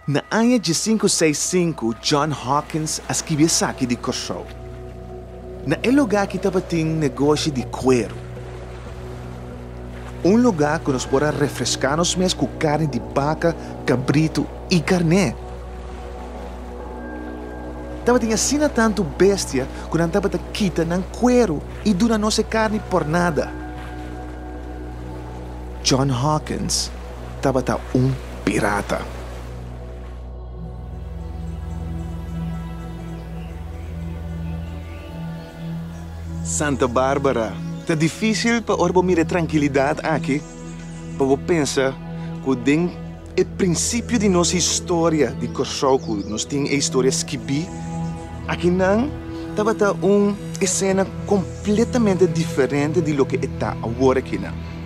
Na aña djisinku seisinku John Hawkins a skibi esaki di Kòrsou. Na e lugá aki tabatin negoshi di kueru. Un lugá ku nos por a refreská nos mes ku karni di baka, kabritu i karné. Tabatin asina tantu bestia ku nan tabata kita nan kueru i duna nos e karni por nada. John Hawkins. tabata un pirata. Santa Barbara, Ta difícil pa ora bo mira e trankilidat aki, pa bo pensa ku den e prinsipio di nos historia di Kòrsou ku nos tin e historia skibí aki nan, tabata un esena kompletamente diferente di loke e ta awor akinan.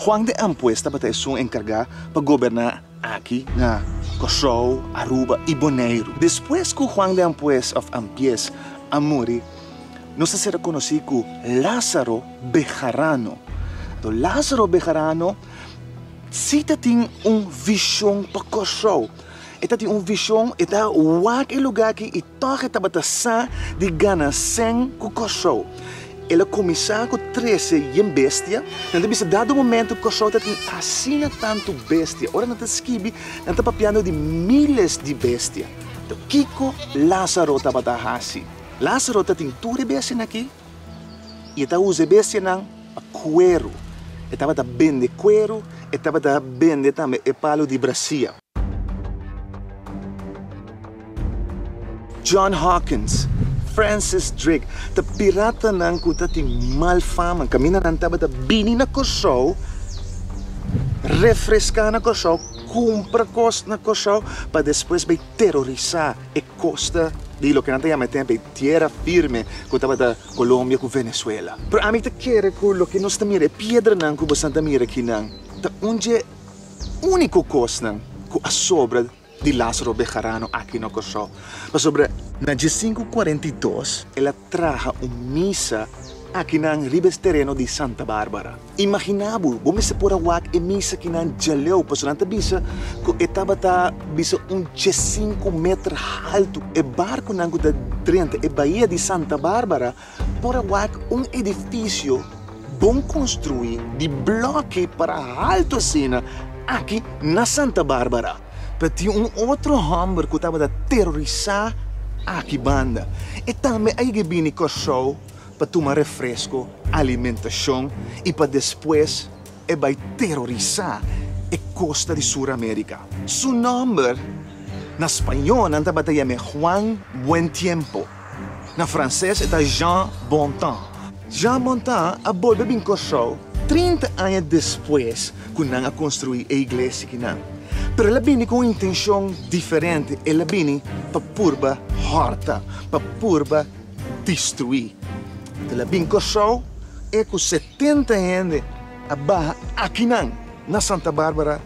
Juan de Ampues tabata esun enkargá pa goberná aki na Kòrsou, Aruba i Boneiru. Despues ku Juan de Ampues òf Ampies a muri, nos a ser rekonosí ku Lázaro Bejarano. Anto Lázaro Bejarano sí ta tin un vishon pa Kòrsou. E ta tin un vishon, e ta wak e lugá aki i Tòg e tabata sa di gana sèn ku Kòrsou. El a kuminsá ku trese yen bestia. Nan ta bisa dado momentu Kòrsou ta tin asina tantu bestia. Ora nan ta skibi nan ta papiando di míles di bestia. Tò kiko Lázaro tabata hasi? Lázaro ta tin tur e bestianan akí i e ta usa e bestianan pa kueru. E tabata bende kueru, e tabata bende tambe e palu di brasia. John Hawkins, Francis Drake, ta piratanan ku ta tin mal fama. Kaminda nan tabata bini na Kòrsou, refreská na Kòrsou, kumpra kos na Kòrsou pa despues bai terorisá e kosta di loke nan ta yama e tempu ei Tierra Firme ku tabata Colombia ku Venezuela. Pero ami ta kere ku loke nos ta mira, e piedranan ku boso ta mira akinan, ta un dje. úniko kosnan ku a sobra di Lázaro Bejarano aki na Kòrsou, pasobra na diesinku kuarenta i dos el a traha un misa akinan riba es tereno di Santa Bárbara. Imaginá bo, bo mester por a wak e misa kinan djaleu, pasobra nan ta bisa ku e tabata bisa un diesinku meter haltu. E barkunan ku ta drenta e bahia di Santa Bárbara Por a wak un edifisio bon konstruí di blòkki para haltu asina aki na Santa Bárbara. Ta tin un otro hòmber ku tabata terorisá aki banda. E tambe a yega a bini Kòrsou pa tuma refresko, alimentashon i pa despues. e bai terorisá e kosta di Suramerika. Su nòmber na spañó nan tabata yam'é Juan Buen Tiempo, na fransés e ta Jean Bontemps. Jean Bontemps a bolbe bin Kòrsou trinta aña despues ku nan a konstruí e iglesia ki nan. Pero el a bini ku un intenshon diferente, el a bini pa purba hòrta, pa purba. destruí. El a bin Kòrsou e ku setenta hende a baha akinan na Santa Bárbara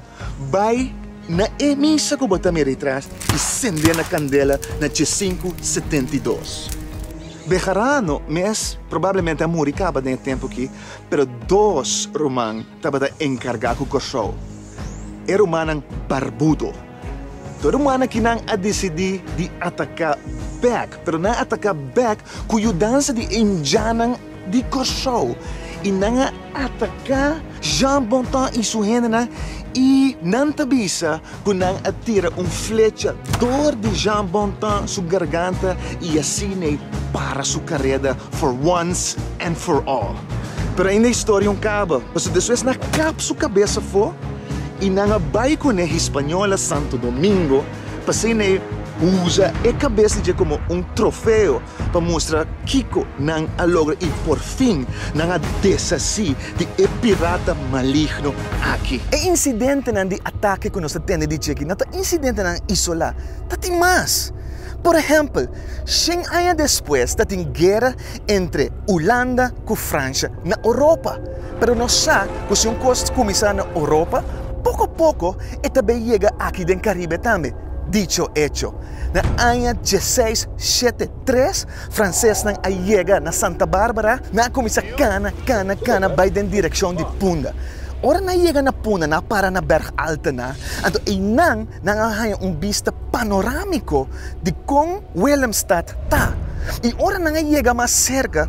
bai na e misa ku bo ta mira atrás i sendé na kandela na dje sinku setenta i dos. Bejarano mes probablemente a muri kaba den e tempu akí, pero dos ruman tabata enkargá ku Kòrsou, e rumannan barbudo. Tur manakinan a disidí di ataká bèk, pero nan a ataká bèk ku yudansa di Indianan di Kòrsou i nan a ataká Jean Bonton i su hendenan i nan ta bisa ku nan a tira un flecha dor di Jean Bonton su garganta i asina ei para su kareda for once and for all. Pero ainda historia un kaba, pasobra despues nan a kap su kabes afó. I nan a bai ku ne Hispaniola Santo Domingo pasei n'e usa e kabes di dje komo un trofeo pa mustra kiko nan a logra i porfin nan a deshasí di e pirata maligno aki. E insidentenan di atake ku nos ta tende di dje aki no ta insidentenan isolá, ta tin mas. Por ehèmpel, shen aña despues ta tin guera entre Ulanda ku Fransha na Oropa. Pero nos sa ku si un kos kuminsá na Oropa, poko poko e ta bai yega aki den Karibe tambe. Dicho hecho. Na aña dieseis shete tres, fransesnan a yega na Santa Bárbara, nan a kuminsá kana, kana, kana bai den direkshon di Punda. Ora nan a yega na Punda, nan a para na bèrg altonan, anto einan Nan a haña un bista panorámiko di kon Willemstad ta, i ora nan a yega mas serka,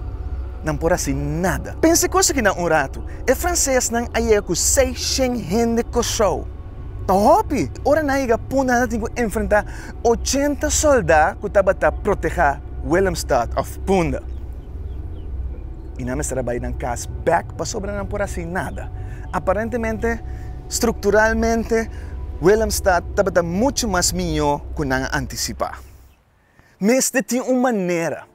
nan por hasi nada. Pensa kos aki na un ratu, e fransesnan a yega ku seis shen hende Kòrsou. Ta hopi! Ora nan a yega punta nan a tin ku enfrentá ochenta sòldá ku tabata protehá Willemstad òf punta. I nan mester a bai nan kas bèk pasobra nan por hasi nada. Aparentemente. Strukturalmente, Willemstad tabata muchu mas mihó ku nan a antisipá. Mester tin un manera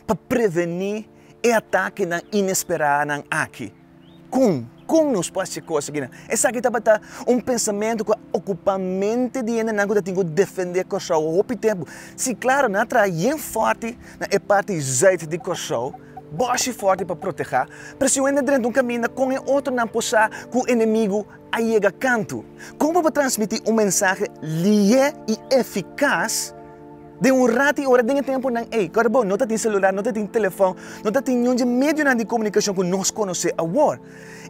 pa prevení e atakenan inesperanan aki. Kon? Kon nos por hasi kos akinan? Esaki tabata un pensamentu ku a okupá mente di hendenan ku ta tin ku defendé Kòrsou hopi tempu. Sí, klaru, nan a traha bien fòrti na e parti zuid di Kòrsou. Bòshi fòrti pa protehá. Presionan durante un kaminda kon e otronan por sa ku enemigu a yega kantu. Kon bo por transmití un mensahe lihe i efikas den un rat i ora den e tempunan ei ku bo no ta tin selular, no ta tin telefòn, no ta tin niun dje medionan di komunikashon ku nos konosé awor?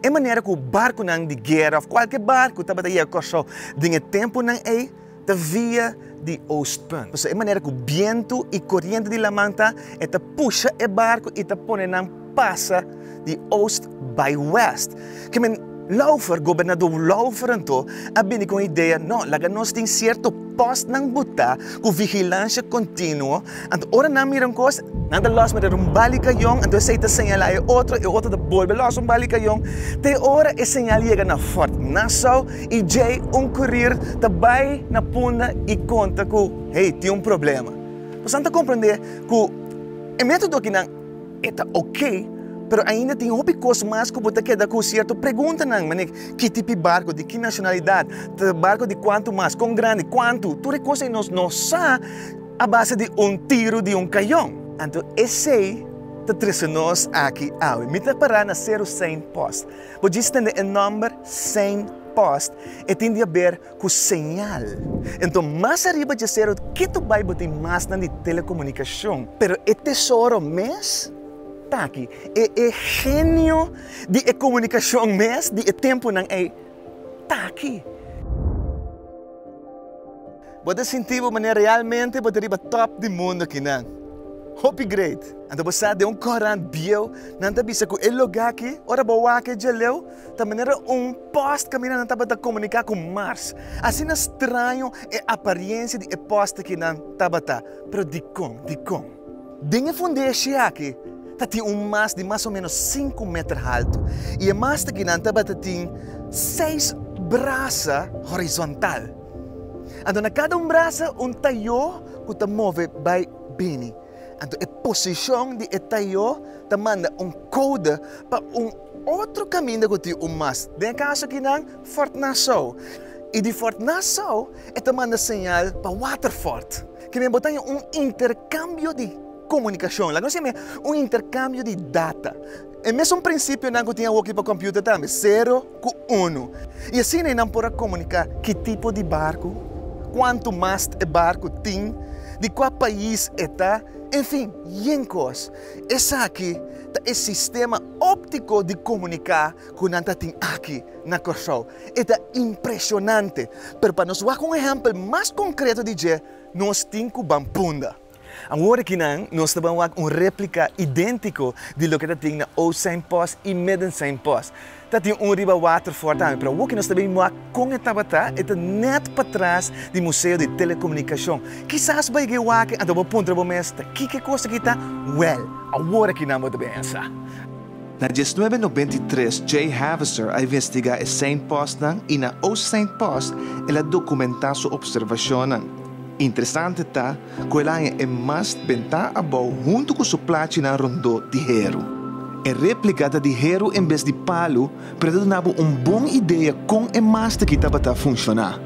E manera ku barkunan di guera òf kualke barku tabata yega Kòrsou den e tempunan ei, ta via di oostpunt. Pasobra e manera ku bientu i koriente di laman ta, e ta pusha e barku i ta pone nan pasa di oost bai wèst. Ke men Laufer, gobernadó Laufer anto, a bini ku un idea, No, laga nos tin sierto pòstnan botá ku vigilansia kontinuo, Anto ora nan mira un kos, nan ta lòs mira un bali kayon, anto esei ta señalá e otro, e otro ta bolbe lòs un bali kayon, te ora e señal yega na Fort Nassau i djei un kurir ta bai na punda i konta ku hey, tin un problema. Pues nan ta komprendé ku e método aki nan e ta oké, pero ainda tin hopi kos mas ku bo ta keda ku sierto preguntanan, manera ki, ki tipi barku, di ki nashonalidat, ta barku di kuantu mas, kon grandi, kuantu, tur e kos ei nos no sa. a base di un tiro di un kayon. Anto esei ta trese nos aki awe. Mi ta pará na Seru Sein Post. Bo djis tende e nòmber Sein Post, e tin di haber ku señal. Anto mas ariba dje seru kitu bai bo tin masnan di telekomunikashon. Pero e tesoro mes ta aki. E e genio di e komunikashon mes di e tempunan ei ta aki. Bo ta sinti bo manera realmente bo ta riba top di mundo akinan. Hopi great! Anto bo sa den un korant bieu nan ta bisa ku e lugá aki, ora bo wak e djaleu, ta manera un post kaminda nan tabata komuniká ku Mars. Asina straño e aparensia di e post akinan tabata. Pero dikon? Dikon? Den e fundeshe aki ta tin un mast di mas o ménos sinku meter haltu i e mast akinan tabata tin seis brasa horizontal. Anto na kada un brasa un tayó ku ta move bai bini. Anto e posishon di e tayó ta manda un kouda pa un otro kaminda ku tin un mas. Den e kaso aki nan Fort Nassau. I di Fort Nassau e ta manda señal pa Waterfort. Ke men bo ta haña un interkambio di komunikashon. Laga nos siña men un interkambio di data. E mesun prinsipionan ku tin awoki pa kòmpiuter tambe. Sero. ku unu, i asina e nan por a komuniká ki tipo di barku, kuantu mast e barku tin, di kua pais e ta, enfin, yen kos. Esaki ta e sistema óptiko di komuniká ku nan ta tin aki na Kòrsou. E ta impreshonante, pero pa nos wak un ehèmpel mas konkreto di dje, nos tin ku Bampunda. Awor aki nan nos ta ban wak un replika identico di loke ta tin na Oud Zijn Post y Midden Zijn Post. Ta tin un riba water for tambe, pero awor aki nos ta bin wak con e tabata e ta net patras di Museo di Telecomunicacion. Kisas bay ge wak anto bo puntra bo mes ta kike cos aki ta? Wel, awor aki nan bo ta bensa. Na diesnuebe nobenta i tres Jay Haviser a investiga e Zijn Postnan y na Oud Zijn Post el a documenta su observacionnan. Interesante ta ku el haña e mas ben ta abou huntu ku su plachinan rondó di heru. E réplika ta di heru en bes di palu, pero ta duna bo un bon idea kon e mas ta ki tabata funshoná.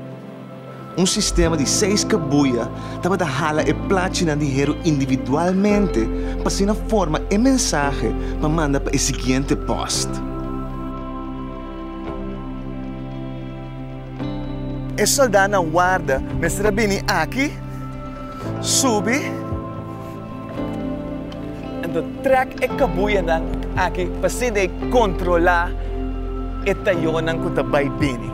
Un sistema di seis kabuya tabata hala e plachinan di heru individualmente pa asina forma e mensahe pa manda pa e siguiente pòst. E soldánan warda mester a bini aki, subi, enton trèk e kabuyanan aki pasinta e kontrolá e tayonan ku ta bai bini.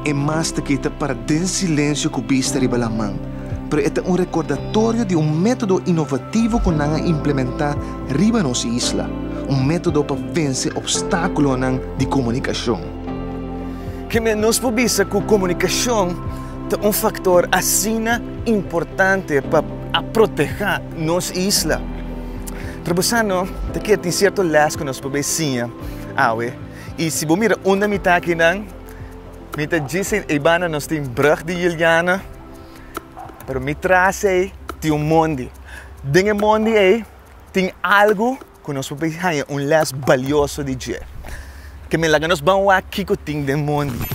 E mas ta kita para den silensio ku bista riba laman, pero e ta un rekordatorio di un método inovativo ku nan a implementá riba nos isla, un método pa vense obstákulonan di komunikashon. Kende nos por bisa ku komunikashon ta un faktor asina importante pa a protehá nos isla? Trabosando ta ke tin sierto lès ku nos por bai siña awe. I si bo mira unda mi ta akinan, mi ta djisi ei banda nos tin Brug di Juliana, pero mi tras ei tin un mondi. Den e mondi ei tin algu. Ku nos por bai haña un lès balioso di dje. Ke mi laga nos ban wak kiko tin den mondi.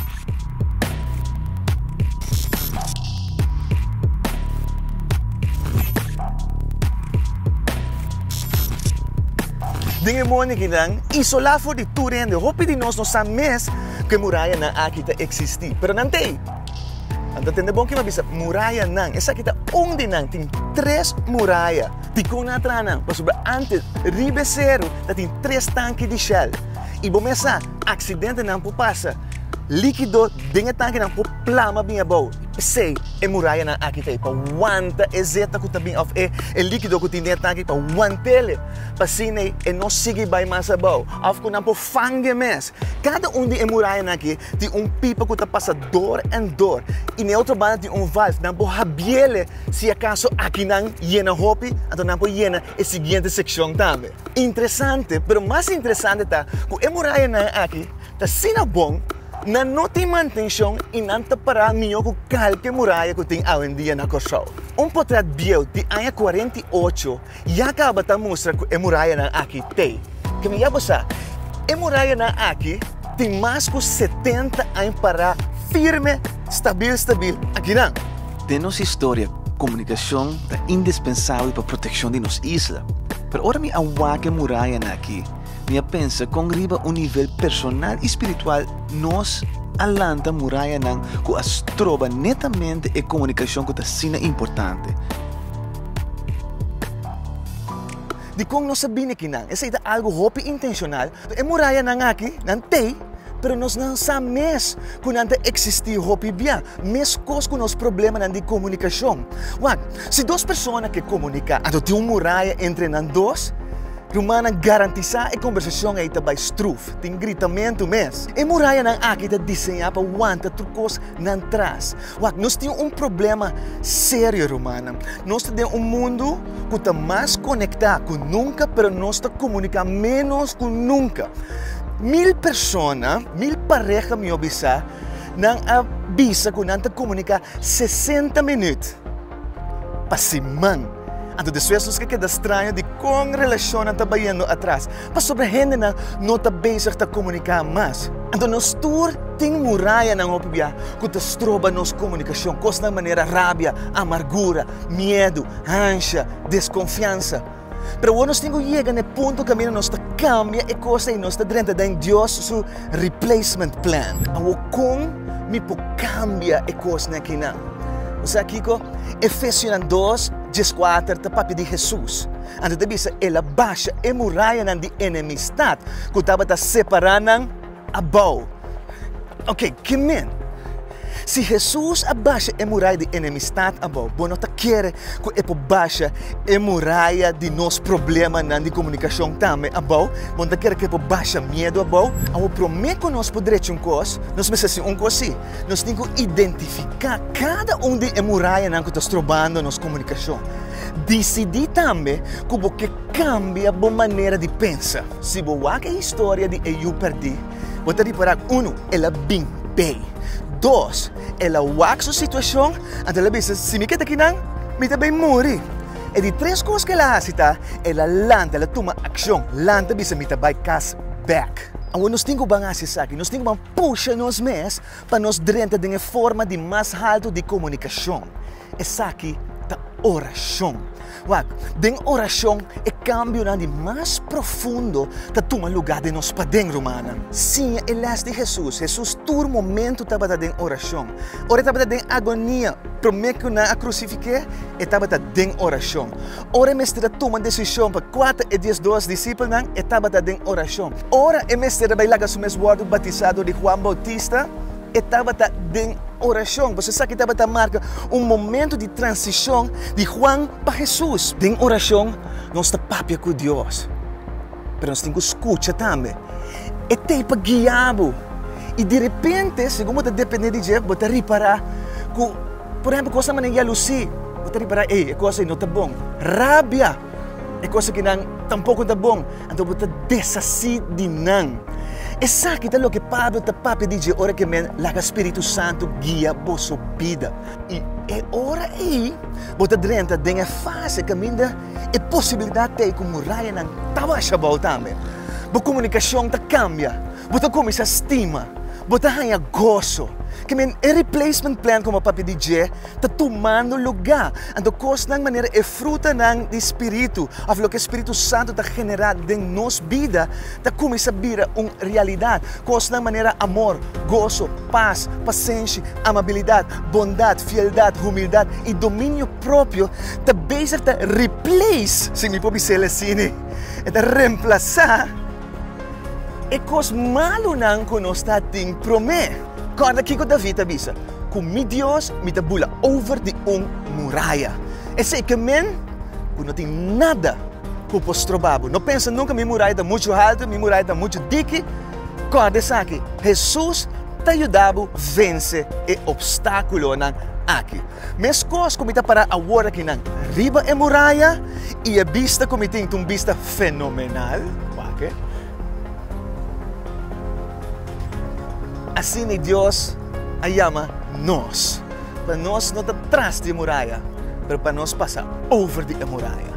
Den e mondi akinan, isolá for di tur hende, hopi di nos no sa mes ku e murayanan aki ta eksistí. Pero nan t'ei. Nan ta tende bon kiba bisa murayanan. Esaki ta un di nan. Tin tres muraya. Dikon nan a traha nan? Pasobra antes riba e seru ta tin tres tanki di Shell. I bo mes sa, aksidentenan por pasa. Líkido den e tankinan por plama bin abou. P'esei e murayanan aki ta pa wanta e zeta ku ta bin òf e líkido ku tin den e tanki pa want'e. P'asina e no sigui bai mas abou òf ku nan por fang'e mes. Kada un di e murayanan aki tin un pipa ku ta pasa dor èn dor i na e otro banda tin un valf. Nan por habiel. Si akaso aki nan yena hopi, anto nan por yena e siguiente sekshon tambe. Interesante, pero mas interesante ta ku e murayanan aki ta asina bon, nan no tin mantenshon i nan ta pará mihó ku kalke muraya ku tin awendia na Kòrsou. Un potrèt bieu di aña kuarenta i ocho Ya caba ta mustra cu e murayanan aki t'e. Kende ya bo sa? E murayanan aki tin mas cu setenta aña pará firme, stabil stabil akinan. Den nos historia, comunicacion ta indispensabel pa proteccion di nos isla. Pero ora mi a wak e murayanan aki, mi a pensa con riba un nivel personal y spiritual nos a lanta murayanan cu a stroba netamente e comunicacion cu ta asina importante. Dikon nos a bini akinan? Esei ta algu hopi intenshonal. E murayanan aki, nan t'ei, pero nos nan sa mes ku nan ta eksistí hopi bia, meskos ku nos problemanan di komunikashon. Wak, si dos persona ke komuniká, anto tin un muraya entre nan dos. Rumannan, garantisá e kombersashon ei ta bai struf, tin gritamentu mes. E murayanan aki ta diseñá pa wanta tur kos nan tras. Wak, nos tin un problema serio, rumannan. Nos ta den un mundu ku ta mas konektá ku nunka, pero nos ta komuniká ménos ku nunka. Mil persona, mil pareha mi a bisa, nan a bisa ku nan ta komuniká sesenta minüt. Pa siman. Anto despues nos ke keda straño di kon relashonnan ta bayendo atras, pasobra hendenan no ta bezig ta komuniká mas. Anto nos tur tin murayanan hopi bia ku ta stroba nos komunikashon, kosnan manera rabia, amargura, miedu, hansha, deskonfiansa. Pero awor nos tin ku yega na e punto kaminda nos ta kambia e kos ei, nos ta drenta den Dios su replacement plan. Awor kon mi por kambia e kosnan akinan? Bo sa kiko? Efesionan dos, dies kuater ta papia di Hesus. Ante ta bisa, El a basha e murayanan di enemistat ku tabata separá nan. a bou. Oke, ki men? Si Hesus a basha e murai di enemistat abou, bo no ta kere ku e por basha e muraya di nos problemanan di komunikashon tambe abou? Bo no ta kere ku e por basha miedu abou? Awo, promé ku nos por drecha un kos, nos mester hasi ungkos sí. Nos tin ku identifiká kada un di e murayanan ku ta strobando nos komunikashon. Disidí tambe ku bo ke. Kambia bo manera di pensa. Si bo wak e historia di e yu perdí, bo ta ripará, unu, el a bin bay. Dos, el a wak su situashon, anto el a bisa, Si mi keda aki nan, mi ta bay muri. E di tres kos ku el a hasi ta, el a lanta, el a tuma akshon, lanta bisa, Mi ta bay kas bèk. Awe nos tin ku ban hasi esaki, nos tin ku ban pusha nos mes pa nos drenta den e forma di mas haltu di komunikashon. Esaki ta orashon. Wak, den orashon e kambionan di mas profundo ta tuma lugá den nos paden, rumannan. Siña e lès di Hesus. Hesus tur momentu tabata den orashon. Ora e tabata den agonia, promé ku nan a krusifik'é, e tabata den orashon. Ora e mester a tuma desishon pa kuater e diesdos disipelnan, e tabata den orashon. Ora e mester a bai laga su mes wòrdu batisá dor di Huan Boutista, E tabata den orashon. Boso esaki tabata marka un momento di transishon di Juan pa Hesus. Den orashon nos ta papia ku Dios, pero nos tin ku skucha tambe. E tei pa guia bo. I derepente, segun bo ta dependé di dje, bo ta ripará ku, por ehempel, kos na manera yalusí. Bo ta ripará, Ei, e kos ei no ta bon. Rabia, e kos aki nan tampoko no ta bon. Anto bo ta deshasí di nan. Esaki ta loke Pablo ta papia di dje ora ku e men laga spiritu santu guia boso bida. I e ora ei bo ta drenta den e fase kaminda e posibilidat t'ei ku murayanan ta basha bou tambe. Bo komunikashon ta kambia, bo ta kuminsá stima, bo ta haña goso. Ke men e replacement plan ku bo papia di dje ta tumando lugá. Anto kosnan manera e frutanan di Spiritu, òf loke Spiritu Santu ta generá den nos bida, ta kuminsá bira un realidat. Kosnan manera amor, goso, pas, pasenshi, amabilidat, bondat, fieldat, humildat i dominio propio ta bezig ta replace, si mi por bisel asina, e ta remplasá, E kos malunan ku nos ta tin promé. Kòrda kiko David a bisa, Ku mi Dios mi ta bula over di un muraya. Esei ke men ku no tin nada ku por stroba bo. No pensa nunka, Mi muraya ta muchu haltu, mi muraya ta muchu diki. Kòrda esaki, Hesus ta yuda bo vense e opstákulonan aki. Meskos ku mi ta para awor aki nan riba e muraya i e bista ku mi tin ta un bista fenomenal. Wak e. Asina Dios a yama nos, pa nos no ta tras di e muraya, pero pa nos pasa over di e muraya.